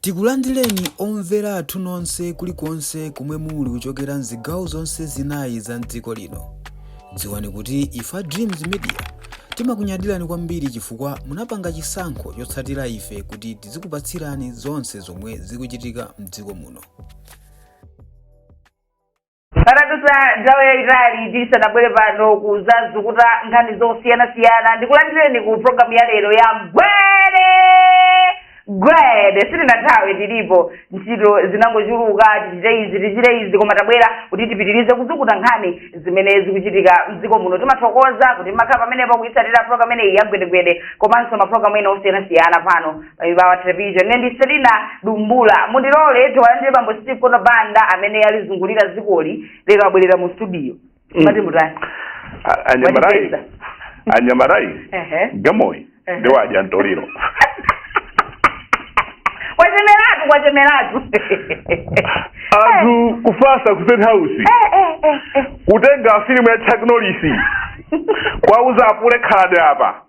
Tikulandireni omvera athu nonse kulikonse komwe muli kuchokera m'zigawo zonse zinayi za m'dziko lino. Dziwani kuti ife a Dreams Media timakunyadirani kwambiri chifukwa munapanga chisankho chotsatira ife kuti tizikupatsirani zonse zomwe zikuchitika m'dziko muno. patadusa nthawi yayitali tisanabwere pano kuzazukuta nkhani zosiyanasiyana ndikulandireni ku programu ya lero ya gwede gwede sitinathawe tilipo ntchito zinangochuluka tichite izi tichite izi koma tabwera kuti tipitirize kuzukuta nkhani zimene zikuchitika mdziko muno timathokoza kuti mumakhala pamenepo kuyitsatira programu imeneyi ya gwedegwede komanso maprogramu ena osiyanasiyana pano ibawa television ne ndi selina dumbula mundilole tiwalandire bambo steve kono banda amene alizungulira dzikoli lero abwerera mu studio Mm. mati mutani A- anyamarayi Wandipeza. anyamarayi Ehe. gamoyi Ehe. ndi wadya mtoliro kwachemeratu kwachemeratu anthu kufasa ku state house Eh, eh, eh, eh. kutenga filimu ya chuck norris kwauza apule khalani apa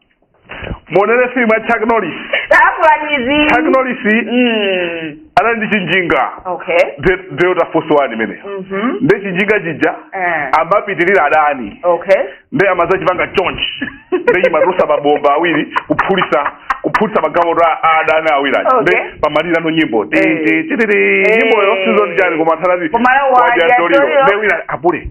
muonere filimu ya chuck norris takulanyizi chuck norris Mm. anali ndi chinjinga okay De- delta force one imene Mhm. nde chinjinga chija Eh. amapitirira adani okay nde amazachipanga chonchi nde chimatulutsa mabomba awiri kuphulitsa kuphulitsa magalimoto a a adani awiri aja Okay. nde pamalirano nyimbo Ti- Eh. ti- ti- ti- ti. Eh. nyimboyo sizoni chani koma anthu anati Koma la wadya wadya mtoliro. mtoliro. nde wina apule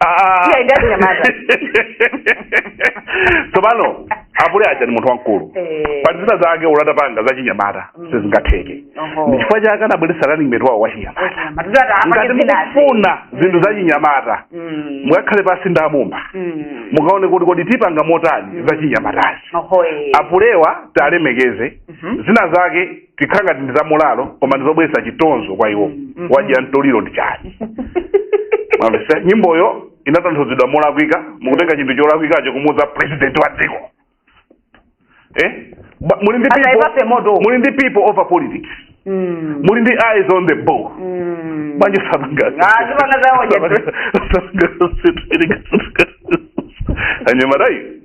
Ah. Iye ndi achinyamata. tsopano apule aja ndi munthu wamkulu Eh. pali zina zake olo atapanga zachinyamata Mm. sizingatheke Oho. ndi chifukwa chake anabweretsa running mate wawo wachinyamata Achinyamata. Ndiye ati apake ngati zinazi. mukufuna zinthu zachinyamata Mm. mukakhale pansi ndi amumba Mm. mukaone kuti kodi tipanga motani zachinyamatazi Oho, eh. apulewa tiwalemekeze Mhm. zina zake zikhala ngati ndi zamulalo koma ndi zobweretsa chitonzo kwa iwo Mm, mhm. wadya mtoliro ndi chani mwamvetsa nyimboyo inatanthauzidwa molakwika mukutenga chinthu cholakwikacho kumuuza president wa dziko eh? Ba- muli ndi Asayipase people- moto. muli ndi people over politics Mm. muli ndi eyes on the ball Mm. manje sapanga Ah, zipanga zawo, Jeffrey. anyamatayi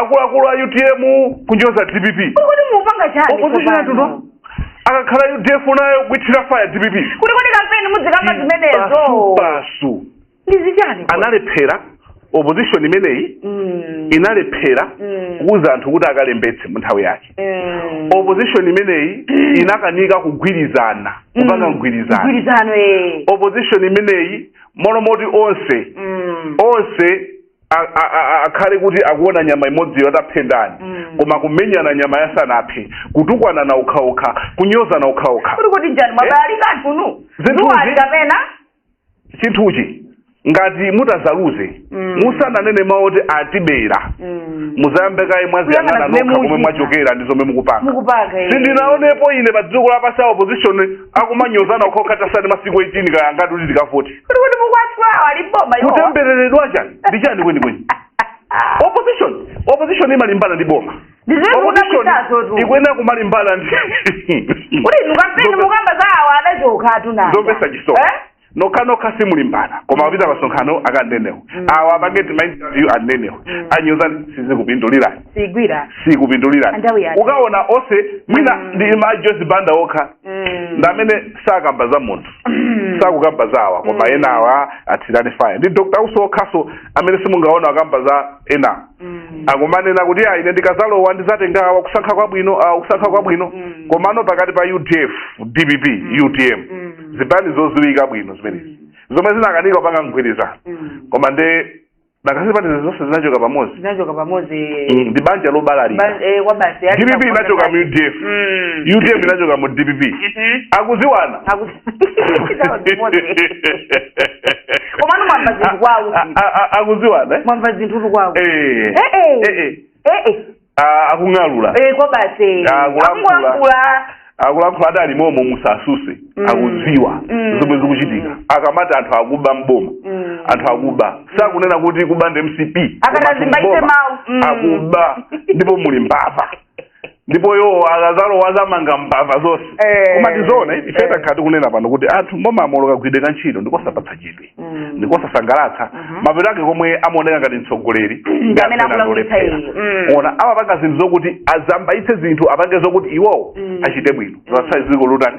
akuluakulu a utm kunyoza dpp kodi mupanga chani opposition tsopano? yatuno akakhala udf nayo kuithira faya dpp kuti kodi kampeni muzikamba zimenezo basi ndizichani kodi? analephera opposition imeneyi Mm, inalephera Mm. kuuza anthu kuti akalembetse mu nthawi yake mm. opposition imeneyi inakanika kugwirizana kupanga Mm. mgwirizano Mgwirizano, eh. opposition imeneyi molomoti onse Mm. onse a- a- a- a- akhale kuti akuona nyama imodziyo atapha ndani Mm. koma kumenyana nyama asanaphe kutukwanana okhaokha kunyozana okhaokha kodi kodi nchani mwabayali kanthu nu Zinthu nuwali zi- kapena chinthuchi ngati mutazaluze Mm. musananene mawu oti atibera Mm. muzayambe kaye mwaziyang'ana Kuyang'ana zimene nokha komwe muchita. mwachokera ndi zomwe mukupanga mukupanga eh. sindinaonepo ine pa dziko lapansi a opposition akumanyozana okhaokha tatsala masiku 18 kaya angati kuti tikavote kuti kuti muzatenga boma iwo kutembereredwa chani nchani kwenikweni opposition opposition imalimbana ndi boma Ndiziwe Opposition kunapisazo tu. ikuyenera kumalimbana ndi kuti inu kampeni Zope- mukamba za awa adachoka anthuwa zomvetsa chisoni nokhanokha simulimbana koma apita masonkhano akanene awa Mm. awa apange tima interview anene awa Mm. anyoza sizikupindulirani sigwira sikupindulirani Nthawi yake. ukaona onse mwina Mm. ndi mai Joyce banda okha Mm. ndi amene sakamba za munthu sakukamba za awa koma Mm. ena awa athira faya ndi dr usi okhaso amene simungaona akamba za ena Mm. akumanena kuti ayi ine ndikazalowa ndizatenga awa kusankha kwabwino awa kusankha kwabwino Mm. komano pakati pa udf dpp utm Mm. zipani zoziwika bwino zimenezi zomwe zinakanika kupanga mgwirizano Mm. koma nde nanga si zipani zonse zinachoka pamodzi zinachoka pamodzi Mm, ndi banja lobalalika Ba- eh, kwa basi dpp inachoka mu udf Mm. utm inachoka mu dpp Mhm. akuziwana Akuzi- komano mwamva zinthu kwawo akuziwana mwamva zinthu tukwawo Eh. Eh, eh. ee Ah, akung'alura ee kwa basi Ah, kulankhula. akung'alura akulankhula adalimomo musasuse Mm. akuziwa Mm. zomwe zikuchitika akamati anthu akuba mboma Mm. anthu akuba sakunena kuti akuba ndi mcp Akati koma azimbaitse mboma. mawu. Mm. akuba ndipo muli mbava ndipo iwo akazalowa azamanga mbava zonse Eh, koma tizoona ife eh. takhala tikunena pano kuti anthu mbomamo kagwiridwe ka ntchito ndikosapatsa chidwi Mm. ndikosasangalatsa Mhm. mapeto ake komwe amaoneka ngati mtsogoleri Ndi amene akulakwitsa iye. Mm. ena amapanga zinthu zokuti asambaitse zinthu apange zokuti iwowo Mm. achite bwino zatsala ziko lotani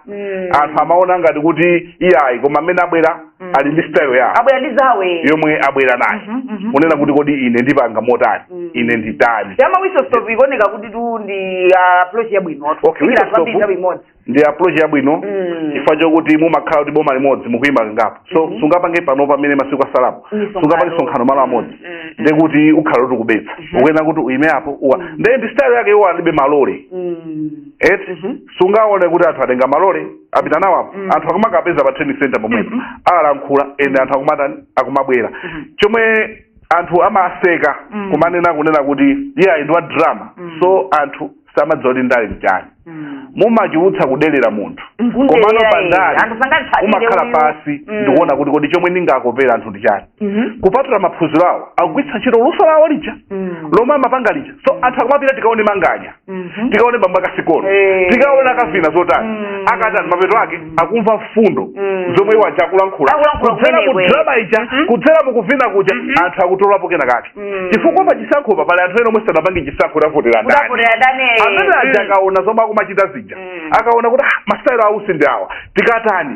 Mm. anthu amaona ngati kuti iyayi koma amene abwera Mm. ali ndi style yawo abwera ndi zawo yomwe abwera nayo Mhm, mhm. kunena kuti kodi ine ndipanga motani Mm. ine nditani ya ma whistle stop ikuoneka kuti tu ndi ah, approach yabwino watu Okay, Kufikira whistle anthu ambiri stop. nthawi imodzi ndi approach yabwino Mm. chifukwa chokuti mumakhala kuti boma limodzi mukuyima kangapo so Mhm. sungapange pano pamene masiku asalapo Misonkhano. sungapange sonkhano malo amodzi Mm, mm. nde kuti ukhala kuti ukubetsa Mhm. ukuyenera kuti uyime apo uwa Mm. nde ndi style yake iwo alibe malole Mm. eti Mhm. sungaone kuti anthu atenga malole apita nawo apo Mm. anthu akumakapeza pa trading center pomwepo Mhm. alankhula and anthu akumatani akumabwera Mhm. chomwe anthu amaseka Mm. kumanena kunena kuti iye ayi ndi wa drama Mm. so anthu samadziwa kuti ndale nchani Mm. mumachulutsa kudelera munthu Nkundelera komano pa iye. ndale Anthu sangatsatire umakhala uyu. pasi Mm. ndikuona kuti kodi chomwe ndingakopera anthu ndi chani Mhm. kupatula maphunziro awo akugwiritsa ntchito luso lawo lija Mm. lomwe amapanga lija so anthu akumapita tikaone manganya Mhm. tikaone bambo ake a sikono Eh. tikaone akavina zotani Mm. akatani mapeto ake akumva mfundo Mm. zomwe iwo aja akulankhula Akulankhula kudzera mu kumeneko. drama ija Mhm. kudzera mu kuvina kuja anthu akutolapo kena kake Mm. chifukwa pa chisankhopa pali anthu ena omwe sanapange chisankho tavotera ndani Kutavotera ndani? amene aja Mm. akaona zomwe akumachita zija Mm. akaona kuti "Ah, masitayiro a usi ndi awa tikatani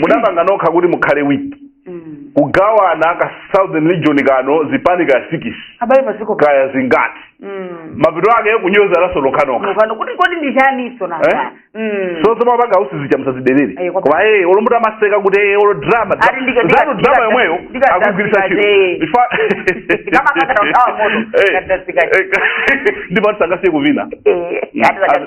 mudapanga nokha kuti mukhale wiki Mm. kugawana ka southern region kano zipani ka sikisi abale paziko pa- kaya zingati Mm. mapeto ake kunyozanaso nokhanokha Mukano kuti kodi ndi chaninso Eh? nanga Mm. so zomwe apanga a usi zija musazidelere Ayi, kwa- koma ee olo muti amaseka kuti ee olo drama Ati ndika- ndika- zanu drama ndika- yomweyo ndika- akugwiritsa ndika- ntchito eh. Ifa- Ndikamakatira kuthawa moto, Eh, ndikatira zikazi. eh, ndipotu sangasiye kuvina Eh, ati zaka-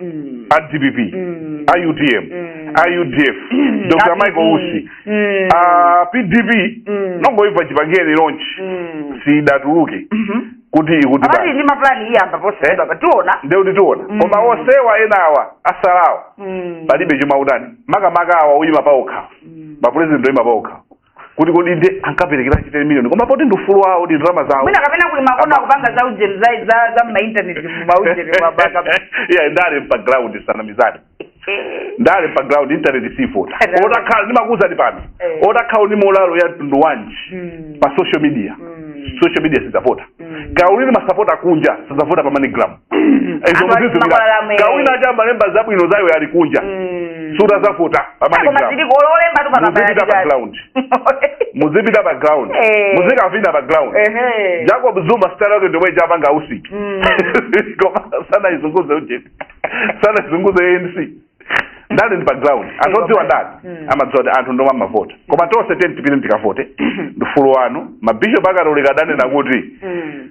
mm. a dpp mm. a utm mm. a udf mm. dr michael usi mm. a pdp mm. nongoimva chipangireni launch mm. sidatuluke mm -hmm. kuti akuti pali ndi mapulani iyamba posachedwa eh? pa tiona nde kuti tiona mm. koma onsewa enawa atsalawa mm. palibe chomwe akutani makamaka awa oyima paokha mm. mapresident oyima paokha kuti kodi ndi ankaperekeranji teni miliyoni koma poti ndi ufulu wawo ndi ndalama zawo mwina kapena kuli makono akupanga za ujeni za za za mainternet ma ujeni wa baka yeah ndale pa ground tisanamizane ndale pa ground internet sivota Eh, ndale. otakhala ndimakuuzani pano Eh. otakhala ndi molalo ya mtundu wanji Mm. pa social media Mm. social media sizavota Mm. kaya uli ndi masapota akunja sazavota pa moneygram Anthu izo ati makwalala amene. kawina aja amalemba zabwino za iwo ali kunja Mm. sikuti azavota koma pa moneygram ziliko lolemba tu muzipita pa ground muzipita pa ground Eh. muzikavina pa ground Ehe. jacob zuma sitayiro yake ndomwe ija apanga a usi Mm. koma sanayizunguze ujeni sanayizunguze anc ndale ndi pa ground anthu odziwa ndale Mm. amadziwa kuti anthu ndomwe amavota koma tonse tiyeni tipite tikavote ndi ufulu wanu mabishop akatolika adanena kuti Mm.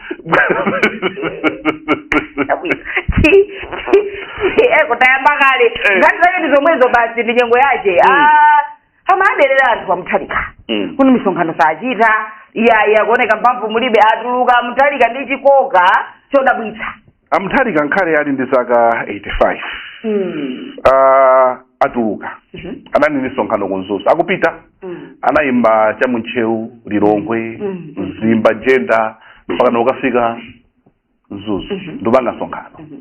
kutayamba kale Eh. nkhani zache ndi zomwezo basi ndi nyengo yache Mm. Ah, amaderera anthu a mutharika Mm. kuti misonkhano sachita iyayi akuoneka mphamvu mulibe atuluka a mutharika ndi chikoka chodabwitsa a mutharika nkhale ali ndi zaka 85 Mm. uh, atuluka Mhm. anali ndi msonkhano ku mzuzu akupita Mm. anayima cha mu ntcheu lilongwe Mm. mzimba jenda mpakana kukafika mzuzu Mhm. ndikupanga msonkhano Mhm.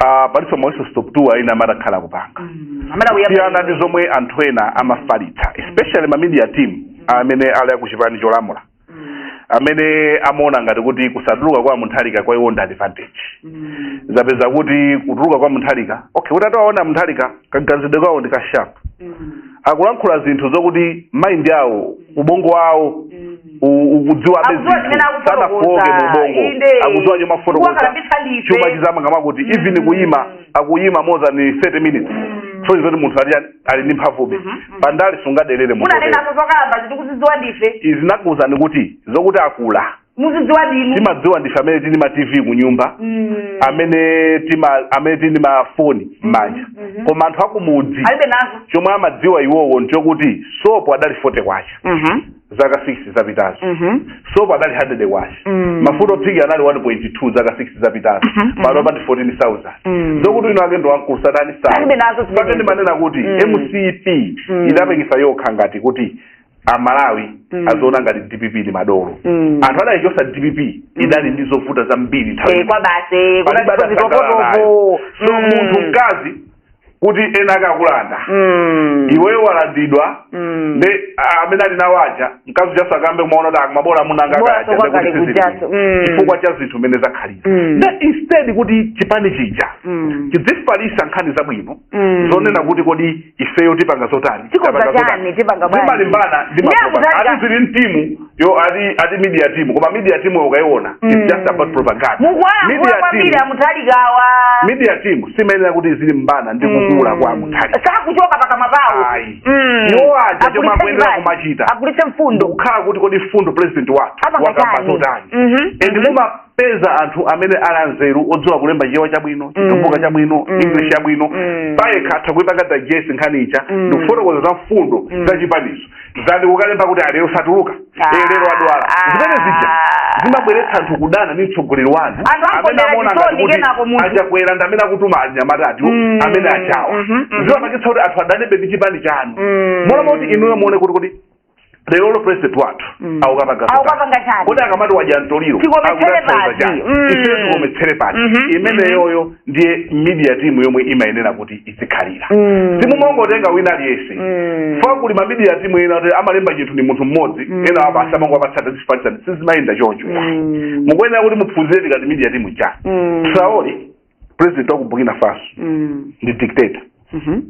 uh, palinso ma whistle stop tour ina amati akhala akupanga Mm. Amada kuyamba. siyana ndi zomwe anthu ena amafalitsa especially ma media team amene ali akuchipani cholamula amene amaona ngati kuti kusatuluka kwa Mutharika kwa iwo ndi advantage zapeza kuti kutuluka kwa Mutharika okay kuti atawaona Mutharika kaganizidwe kawo ndi kasharp akulankhula zinthu zokuti mind yawo ubongo wawo u- ukudziwa abe Akudziwa zimene zinthu akufotokoza, sanafoke mu ubongo inde. akudziwa chomwe afotokoza Kuwakalambitsa ndife. chuma chizamangama kuti even kuyima akuyima more than 30 minutes so ndi zoti munthu atiyani ali ndi mphamvube Mhm, mhm. pandale sungadelere munthu otero. munanenapo zokalamba tikuzidziwa ndife izi ndakuwuzani kuti zokuti akula muzidziwa ndinu timadziwa ndife amene tili ma tv kunyumba Mm. amene tima amene tili ndi mafoni m'manja mhm. koma anthu akumudzi alibe nazo chomwe amadziwa iwowo nchokuti sopo adali fote kwacha Mhm. zaka 6 zapitazo Mhm. sopo adali 100 kwacha Mm. mafuta ophikira anali 1.2 zaka 6 zapitazo Mhm, pano mhm. pa 14000 Mm. zokuti winawake ndi wamkulu sazani Alibe nazo zimene- mpake ndimanena kuti Mm. mcp Mm. idapeketsa yokha ngati kuti amalawi Mm. aziona ngati dpp ndi madolo Mm. anthu adayichotsa dpp idali ndi zovuta zambiri nthawi Eh, kwa basi Palibe adasangalala nayo. so munthu mkazi kuti enaake akulanda Mm. iweyo walandidwa Mm. nde ah, amene ali nawo aja mkazi ujanso akambe kumaona kuti akuma bola amuna anga Bora akaja, sokwakale ndekuti sizili kuchaso. bwino. Mm. chifukwa cha zinthu mmene zakhalira Mm. nde instead kuti chipani chija Mm. chidzifalitsa nkhani zabwino Mm. zonena kuti kodi ifeyo tipanga zotani Tikonza Tapanga zotani. chani, tipanga bwanji. zimalimbana ndi Ndiye makopa akutali- ati zili mtimu yo ati ati media team koma media team yo ukaiona mm. it's just about propaganda mukuwayankhula kwambiri a Mutharikawa media team simayenera kuti izilimbana ndi mm. kukula mm. kwa a Mutharika sakuchoka pakamwa pawo mm. iwo aja chomwe akuyenera kumachita agulitse mfundo kukhala kuti kodi mfundo president wathu wakamba zotani mm -hmm. and mm -hmm. peza anthu amene ali anzeru odziwa kulemba chichewa chabwino chitumbuka chabwino Mm. english yabwino Mm. payekha atha kuipanga digest nkhani ija Mm. ndikufotokoza za mfundo Mm. za chipanizo osati kukalemba kuti a lero satuluka Ah. Eh, lero adwala Ah. zimene zija zimabweretsa anthu kudana ndi mtsogoleri wanu Anthu amene angombera amaona ngati chisoni kuti kenako munthu. achakwera ndi amene akutuma anyamatawatu Mm. amene achawa Mhm, mhm. zimapangitsa kuti anthu adanebe ndi chipani chanu Mm. moti moti inuyo muone kuti kuti lerolo president wathu Mm. akukapanga Akukapanga chani? kodi akamati wadya mtoliro Tikometsere akutanthauza pati. chani? Mm. Ife tikometsere pati Mhm. imeneyoyo ndiye media team yomwe imayenera kuti izikhalira Mm. simumangotenga wina aliyense Mm. chifukwa kuli mamedia team ena kuti amalemba chinthu ndi munthu mmodzi Mm. ena apa basi amangowapatsa ati zifalitsani sizimayenda choncho Mm. mukuyenera kuti mupfunzire tikati media team ncha Mm. Traore president wa ku burkina faso Mm. ndi dictator Mhm.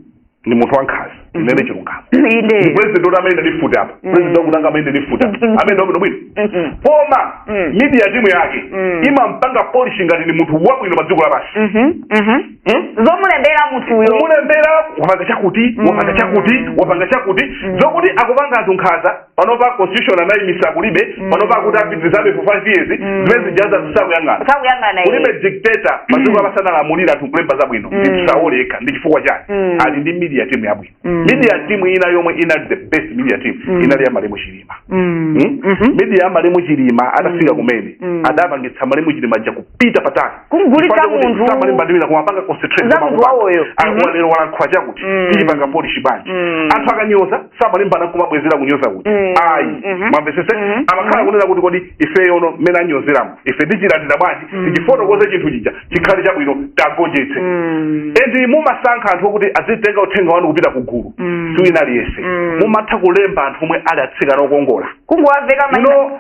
ndi munthu wankhaza ndinene chilungamo ndi inde president oti amenendi ndi futi apa president wakunanga amene ndifuti apa amene wabwino bwino Mhm. koma Mm. media timu yake Mm. imampanga polish ngati ndi munthu wabwino pa dziko lapansi Mhm. Mhm. Hmm? zomulembera munthuyo kumulembera wapanga chakuti wapanga chakuti wapanga chakuti zokuti akupanga anthu nkhaza panopa constitution anayimisa kulibe mm. panopa akuti apitirizebe for five years mm. zimene zijazo tisakuyang'ane kulibe dictator m'dziko mm. amasanalamulire anthu kulemba zabwino ndi tisaoleka ndi chifukwa chake ali ndi media team yabwino media team ina yomwe inali the best media team inali ya malemu chilima hmm? mm-hmm. media ya malemu chilima atafika kumene adapangitsa malemu chilima ja kupita patali kumgulitsa munthu malemu chilima kumapanga concentrate za munthu wawoyo lero mhm. walankhula chakuti mm. tichipanga polish bwanji mm. anthu akanyoza samalimbana kumabwezera kunyoza kuti mm. ayi mhm. mwamvetsetsa mhm. amakhala kunena kuti kodi ifeyo no mmene anyozeramu ife tichilandira bwanji tichifotokoze chinthu chija chikhale chabwino tagonjetse and mumasankha anthu okuti azitenga uthenga wanu kupita kugulu si wina aliyense mumatha kulemba anthu omwe ali atsikana okongola kungowaveka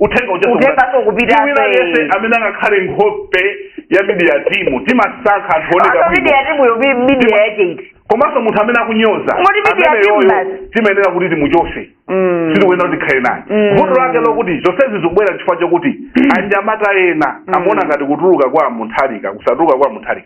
uthenga uja Uthenga sukupita. sukupita, Si wina eh. aliyense amene angakhale nkhope ya midiya timu timasankha anthu oneka Asa bwino media timu yo bi- media yake iti. komanso munthu amene akunyoza Ngoti media amene timu yoyo basi. timayenera kuti timuchotse Mm. sitikuyenera kuti tikhale naye Mm. vuto lake lokuti zonsezi zikubwera chifukwa chokuti anyamata ena amaona ngati kutuluka kwa mutharika kusatuluka kwa mutharika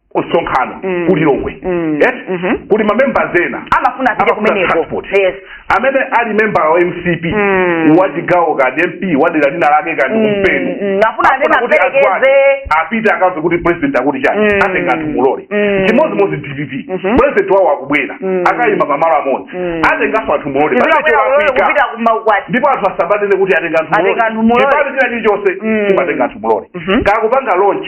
msonkhano mm. ku lilongwe mm. yes? mm -hmm. kuli mamembers ena amafuna apite kumeneko yes. amene ali member wa mcp mm. wa chigawo kani mp wa dera lina lake kani mm. kumpena mm. afuna kuti akwake apite akamve kuti president akuti chani mm. atenga anthu mu lole mm. chimodzimodzi dpp mm -hmm. president wawo akubwera mm. akayima pamalo amodzi mm. atenganso anthu mu lole ndipo anthu asamanene kuti atenga anthu mu lole chipani china chilichonse mm. chimatenga anthu mu lole mm -hmm. kukapanga launch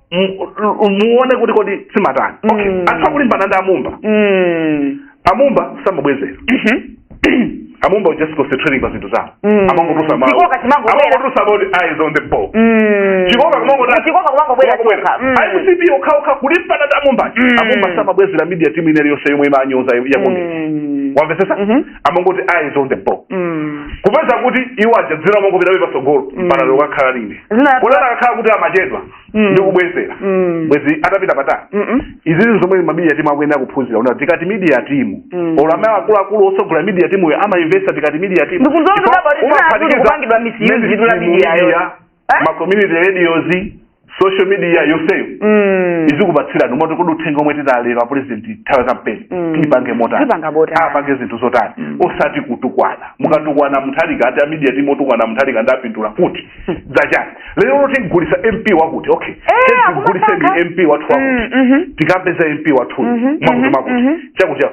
muone kuti kodi simatani okay mm. anthu akulimbana ndi amumba mm. amumba samabwezera mm-hmm. amumba was just concentrating pa zinthu zawo mm. amangotulutsa mawu chikoka amangotulutsa about eyes on the ball mm. chikoka kumangotasa chikoka kumangobwera chikoka mm. MCP okha okha kulimbana ndi amumba mm. amumba samabwezera media team inali yonse yomwe imanyoza ya mm. wamvetsetsa mm -hmm. amangoti eyes on the ball Mm. kupeza kuti iwo aja dzina limangopitabe patsogolo Mm. mpaka lero akhala lini Zina- kuti atakakhala kuti amachedwa Mm. ndi kubwezera Mm. bwezi atapita patali Mm-mm. izi zinthu zomwe ma media timu akuyenera kuphunzira una tikati media timu Mm. olo amene akuluakulu otsogolera media timuyo amainvesta tikati media timu Ndikuzoona Ndipo kuti apa kuti umaphatikiza- zinali zikupangidwa misuse Mene- zidula media yo. media Eh? ma community radios social media yonseyo Mm. izikupatsirani mumati kodi uthenga omwe atipa lero apresident nthawi ya kampeni Mm. tiipange motani Tipanga motani. apange zinthu zotani osati kutukwana mukatukwana mutharika ati amidia timu otukwana mutharika ndapindula kuti zachani lero tigulisa mp wakuti okay Eh, tiguliseni akumasaka. mp wathu Mm, mhm. wakuti tikapeza mp wathuyu Mhm, mwakuti mhm, mwakuti mhm. chakuti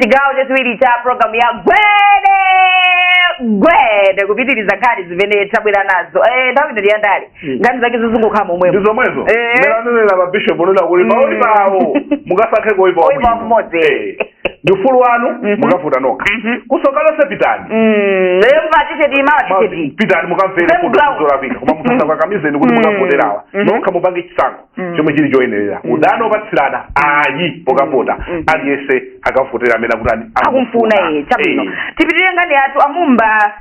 chigawo chachiwiri cha programu ya gwede gwede kupitiriza nkhani zimene tabwera nazo Eh, nthawi ino ndi yandale nkhani zake zizingokhala momwemo ndi zomwezo Eh. mmene anenera mabishop onena kuti Mm. pa oipawo mukasankhe koipa Oipa wabwino. mmodzi. Eh. ndi ufulu wanu Mhm. mukavota nokha Mhm. kumsonkhano onse pitani Mm, lero matisheti mawa matisheti pitani mukamvere Same fundo ground. zolakwika koma musakakamize kuti Mm. mukavoterawa Mhm. nokha mupange chisankho Mm. chomwe chili choyenerera Mm. udani opatsirana ayi pokavota Mm. Mm. aliyense akavotera amene akuti ani- akumfuna iye chabwino Eh. tipitirire nkhani yathu amumba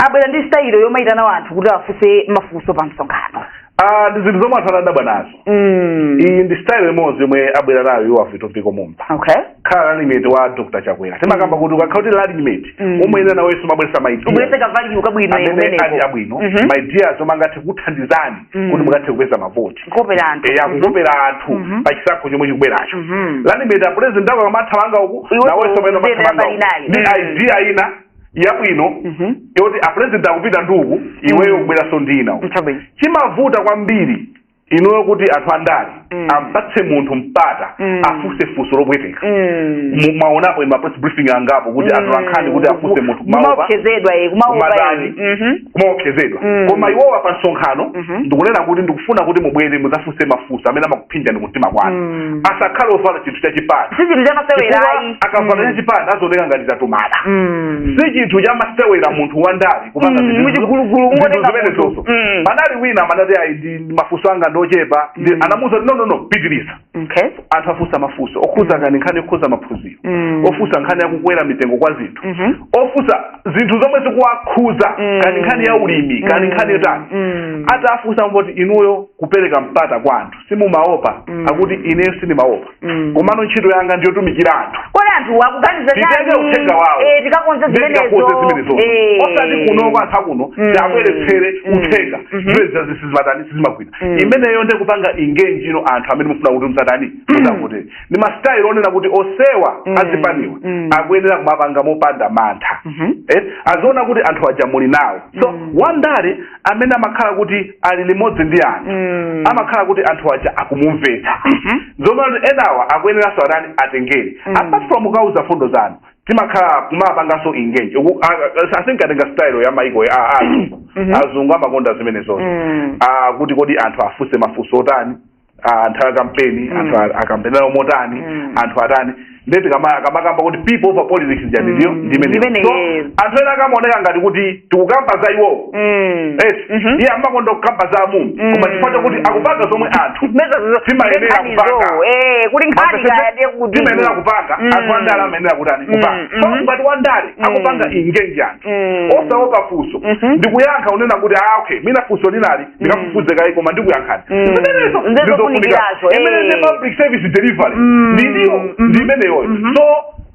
abwera ndi sitayilo yomayitana wanthu kuti afunse mafunso pa msonkhano Ah, ndi zinthu zomwe anthu anadabwa nazo Mm. iyi ndi style imodzi yomwe abwera nayo iwo a Vitumbiko mumba okay khala running mate wa dr chakwera timakamba kuti ukakhala kuti running mate Mm. umayenera nawenso umabweretsa maidea ubweretse kavalidwe kabwino amene ali kumeneko abwino Mhm. maideas omwe angathe kuthandizani Mm. kuti mukathe kupeza mavoti nkopera anthu eya kukopera anthu Mhm. pa chisankho chomwe chikubweracho Mhm. running mate a president ako akamathamanga uku Iwe nawenso umayenera uziyenda umathamanga pali naye. uku ndi Mm. idea ina yabwino Mhm. yoti a president akupita ndi uku iweyo Mm. kubweranso ndi ina uku nchabwino chimavuta kwambiri inuyo kuti anthu andale Mm. ampatse munthu mpata Mm. afunse funso lopweteka Mm. Mu- mwaonapo ma press briefing angapo kuti Mm. anthu ankhani kuti afunse munthu kumaopa kumaopsezedwa eh, kumaopa Kumatani. eh. Mhm. kumaopsezedwa Mm. koma iwowa pa msonkhano Mhm. ndikunena kuti ndikufuna kuti mubwere mudzafunse mafunso amene amakuphinjani kumtima kwanu Mm. asakhale ovala chinthu chachipani si chinthu chamasewera chifukwa ayi akavala Mm. chachipani azioneka ngati tamutuma Mm. si chinthu chamasewera munthu wandale kupanga Mm, zinthu- muchigulugulu, zinthu ungotenga zimenezozo munthu. Mm. panali wina amanati ayi i- mafunso anga ndi ochepa nde Mm. anamuuza kuti no no no pitiriza okay anthu afunsa mafunso okhuza kani nkhani yokhuza maphunziro Mm. ofunsa nkhani yakukwera mitengo kwa zinthu Mhm. ofunsa zinthu zomwe zikuwakhuza Mm. kani nkhani ya ulimi kani Mm. nkhani yotani Mm. atafunsa kuti inuyo kupereka mpata kwa anthu simumaopa Mm. akuti ineyo sindimaopa Mm. komano ntchito yanga ndiyotumikira anthu kodi anthu akuganiza titenge uthenga wawo Eh, tikakonze zimenezo tikakonze zimenezo Eh. osati kuno kwa anthu akuno Mm. tiwabweretsere Mm. uthenga Mhm. zimenezo sizimatani sizimagwira Mm. imeneyo nde kupanga engage ndi anthu amene mufuna kuti adzatani adzavotere ndi masitayilo onena kuti onsewa Mm. azipaniwa Mm. akuyenera kumapanga mopanda mantha Mhm. eh, aziona kuti anthu aja muli nawo close Mm. wandale amene amakhala kuti ali limodzi ndi anthu Mm. amakhala kuti anthu aja akumumvetsa Mhm. zomwe kuti enawa akuyeneranso atani atengere Mm. apart from kukauza fundo zanu tizikhala kumapanganso engage Uku- a- a- I think atenga style ya maiko ya a- a- Mhm. azungu amakonda zimenezozo Mm. Ah, kuti kodi anthu afunse mafunso otani ah, nthawi ya kampeni Mm. anthu a- akampenera motani Mm. anthu atani nde tikama- akamakamba kuti people over politics jani ndiyo Mm, ndimene ndimene so yes. anthu ena akamaoneka ngati kuti tikukamba za iwowo Mm. Yes. Mhm. iye amakonda kukamba za amumba Mm. koma chifukwa chakuti akupanga zomwe anthu Meza zo- Timayenera nkhani kupanga. zo, eh, kuti nkhani kaya ndiye kuti timayenera kupanga Mm. anthu andale amayenera kutani Mm, kupanga mhm. so ngati wandale Mm. akupanga engage anthu Mm. osaopa funso Mhm. ndikuyankha unena kuti ah okay mwina funso linali ndikafufuze kaye koma ndikuyankhani Mm. zimenezo Ndizo ndizofunika funikirazo, eh. imene ndi public service delivery Mm. ndi ndiyo Mhm. ndi imeneyoyo Mhm. so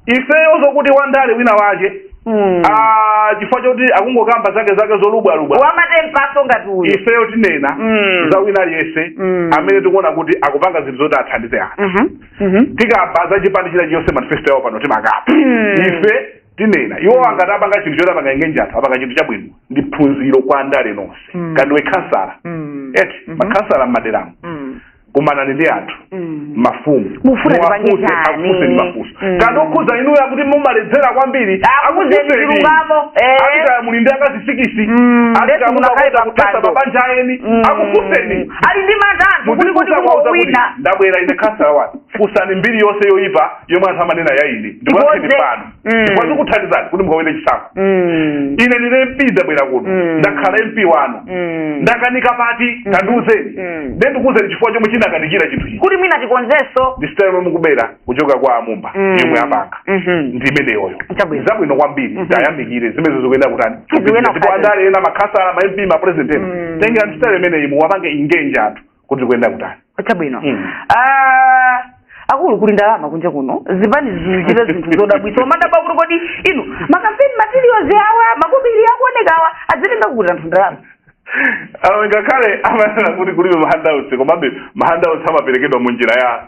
ifeyo zokuti wandale wina wake Mm. ah, chifukwa choti akungokamba zake zake zolubwalubwa wamatempaso ngati uyu ifeyo tinena Mm. za wina aliyense Mm. amene tikuona kuti akupanga zinthu zoti athandize anthu Mhm. Mhm. tikamba za chipani china chiyonse manifesto yawo pano timakamba Mm. ife tinena iwowa ngati apanga chinthu choti apanga engage anthu apanga chinthu chabwino ndi phunziro kwa andale nonse Mm. kaya ndiwe khansala Mm. eti Mhm. makhansala m'maderamo Mm. kumanani ndi anthu Mm. mafumu Mufuna Muwafunse, tipange chani? akufunseni mafunso Mm. kaya ndi okhudza inuyo akuti mumaledzera kwambiri Akuuzeni chilungamo, eh. akuti kaya muli ndi akazi sikisi Mm, lesi akuti kaya munakali mukakuta kuthetsa pampando. mabanja a eni Mm. akufunseni ali ndi mantha anthu kuti kuti Mudzifunsa kuwauza kuti, kungowina ndabwera ine khansala wanu funsani mbiri yonse yoyipa yomwe anthu amanena ya ine ndikuyankheni Ikonze. pano Mm. chifukwa zikuthandizani kuti mukawine chisankho Mm. ine ndine mp ndabwera kuno Mm. ndakhala mp wanu Mm. ndakanika pati tandiuzeni Mm. nde ndikuuzeni chifukwa chomwe chinakanikira chinthu ichi kuti mwina tikonzenso ndi sitayile yomwe mukubera kuchoka kwa amumba Mm. yomwe apanga Mhm. ndi imeneyoyo Chabwino. zabwino kwambiri Mhm. tayamikire zimene zikuyenera kutani Zikuyenera ndipo kutani. andale ena makhansala ma mp ma president ena Mm. tengerani sitayile imeneyi muwapange engage anthu kuti tikuyenera kutani chabwino Mm. Ah, akulu kuli ndalama kunja kuno zipani zikuchita zinthu zodabwitsa umadabwa kuti kodi inu makampeni materials awa makobiri akuoneka awa azitenga kuti anthu ndalama awo ngakhale amanena kuti kulibe mahandouts komabe mahandouts amaperekedwa mu njira ya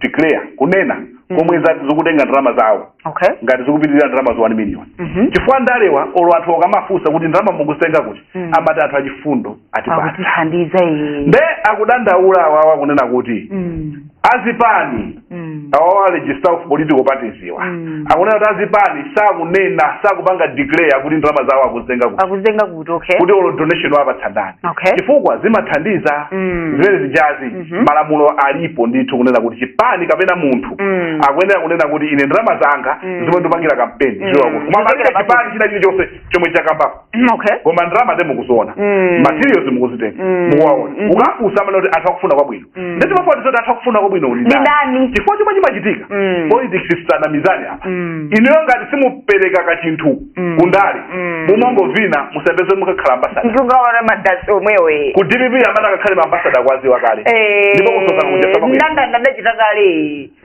declare kunena mm. komwe mm. zati zikutenga ndalama zawo okay. ngati zikupitirira ndalama zo 1 million mm -hmm. chifukwa andalewa olo anthu akamafunsa kuti ndalama mukuzitenga kuti mm. amati anthu achifundo atipa- atithandiza nde akudandaula awawa kunena kuti mm. azipani mm. awawa a registrar of political parties awa mm. akunena kuti azipani sakunena sakupanga declare kuti ndalama zawo akuzitenga kuti kuti okay kuti olo donation wapatsa ndani okay chifukwa zimathandiza Mm. zimene zijazi Mhm. malamulo alipo ndithu kunena kuti chipani kapena munthu Mm. akuyenera kunena kuti ine ndalama zanga Mm. zomwe ndipangira kampeni Mm. ziwa kuti koma palibe Zochokera chipani china chilichonse chomwe chakambapo Mm, okay koma ndalama nde mukuziona Mm. materials mukuzitenga Mm. mukuwaona Mhm. ukafunsa amanena kuti anthu akufuna kwabwino Mm. nde timafuna zoti anthu akufuna kwabwino uli Ndi ndani? ndani? chifukwa chomwe chimachitika Mm. politics tisanamizane apa Mm. inuyo ngati simupereka kachinthu Mm. kundale Mm. mumangovina musapeze mukakhala ambasada ndikugawana madasi omwewo eh. ku dpp amene akakhale maambasada kwaziwa kale Eh, ndipo kusosa kunja ndandanda adachita kale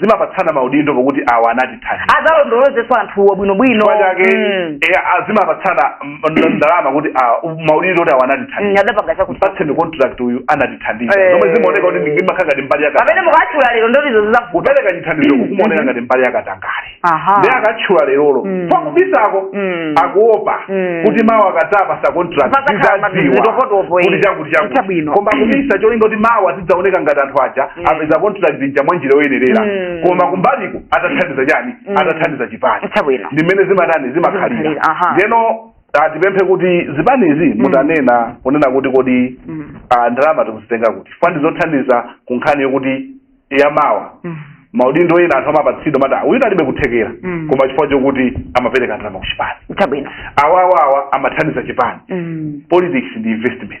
zimapatsana maudindo pokuti awa anatithandiza adzalondolozenso anthuwo bwinobwino chifukwa chake Mm. eh, ah, zimapatsana mm, nd- ndalama kuti ah, maudindo kuti awa Mm, anatithandiza adapanga chakuti patseni contract uyu anatithandiza Eh. zomwe zimaoneka kuti zimakhala ngati mbali pamene yakatangale mukatchula lero ndotizo zizavuta kupereka chithandizo kukumaoneka ngati mbali yakatangale aha nde akatchula lerolo Mm. pakubisako Mm. akuopa Mm. kuti mawa akazapatsa contract Pakatapa zizadziwika zitopotopo, eh. kuti chakuti Chita chakuti bwino. koma kubisa cholinga kuti mawa zidzaoneka ngati anthu aja Mm. apeza contract zija mwa njira yoyenerera Mm. koma kumbaliku adathandiza chani Mm. adathandiza chipani chabwino ndi mmene zimatani Zimakhalira, zimakhalira aha. ndeno ah, tipemphe kuti zipanizi mutanena kunena kuti kodi Mm. ah, ndalama tikuzitenga kuti chifukwa ndi zothandiza ku nkhani yokuti yamawa Mm. maudindo ena anthu amapatsidwa moti uyu alibe kuthekera Mm. koma chifukwa chokuti amapereka ndalama ku chipani chabwino awawawa amathandiza chipani Mm. politics ndi investment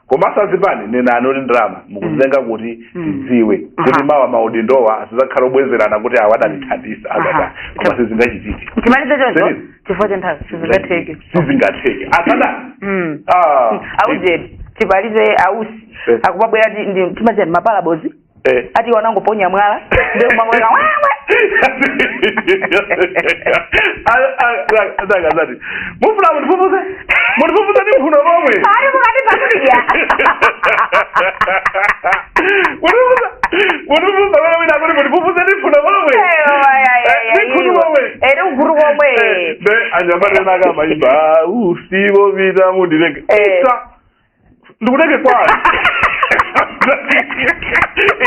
komanso azipani nenani kuti ndalama mukuzitenga kuti Mm. tidziwe Aha. kuti mawa maudindowa asazakhale obwezerana kuti awa adatithandiza Aha. azata koma sizingachitike timalize choncho Serious? chifukwa cha nthawi sizingatheke sizingatheke asada Mm. Ah. aujeni timalize a usi Eh. akubabwera ndi- ndi- timachita ndi maparables Eh. ati iwe anangoponya mwala ndiye kumangoleka wewe akazati mufuna mundifufuze mundifufuze ndi mphuno momwe ali mukati pakudya mundifufuza mundifufuza wewe wina kuti mundifufuze ndi mphuno momwe ndi khutu momwe ere uguru komwe Eh, nde anyamata ena akamayimba usivo vita mundirege Eh. Isa. ndikutenge kwani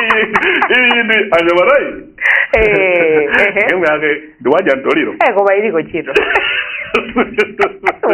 iyi iyi ndi anyamatayi Eh, ehe. nyimbo yake ndi wadya ntoliro Eh, koma iliko ntchito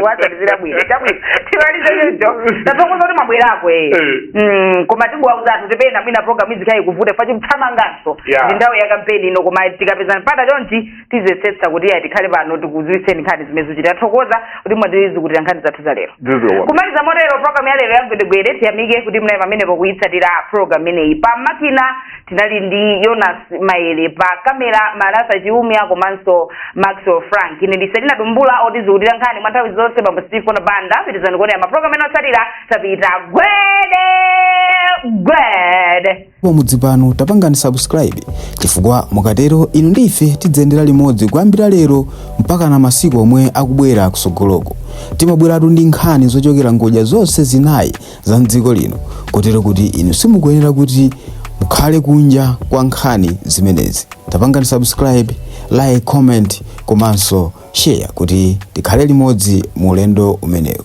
watandizira bwino chabwino timalize choncho tathokoza kuti mwabwerako eh Eh. Mm, koma tingowauza anthu kuti pena mwina program izikhala ikuvuta chifukwa tikuthamanganso Yeah. ndi nthawi ya kampeni ino koma tikapeza mpata chonchi tiziyesetsa kuti iyayi tikhale pano tikuziwitseni nkhani zimene zikuchitika tathokoza kuti mwatizukutira nkhani zathu za lero Zizwa. kumaliza motero program ya lero ya gwedegwede tiyamike kuti munali pamenepo kuyitsatira program imeneyi pa makina tinali ndi yonas maele pa kamera marasa chiumia komanso maxwell frank ine ndi selina dumbula otizukutira nkhani mwa nthawi zonse bambo steve kona banda pitirizani kuonera maprogram ena otsatira tapita gwede gwede pomudzi pano tapangani subscribe chifukwa mukatero inu ndi ife tidzayendera limodzi kuyambira lero mpaka na masiku omwe akubwera kusogoloko timabweratu ndi nkhani zochokera ngodya zonse zinayi za mdziko lino kotero kuti inu simukuyenera kuti mukhale kunja kwa nkhani zimenezi tapangani subscribe like comment komanso share kuti tikhale limodzi mu ulendo umenewu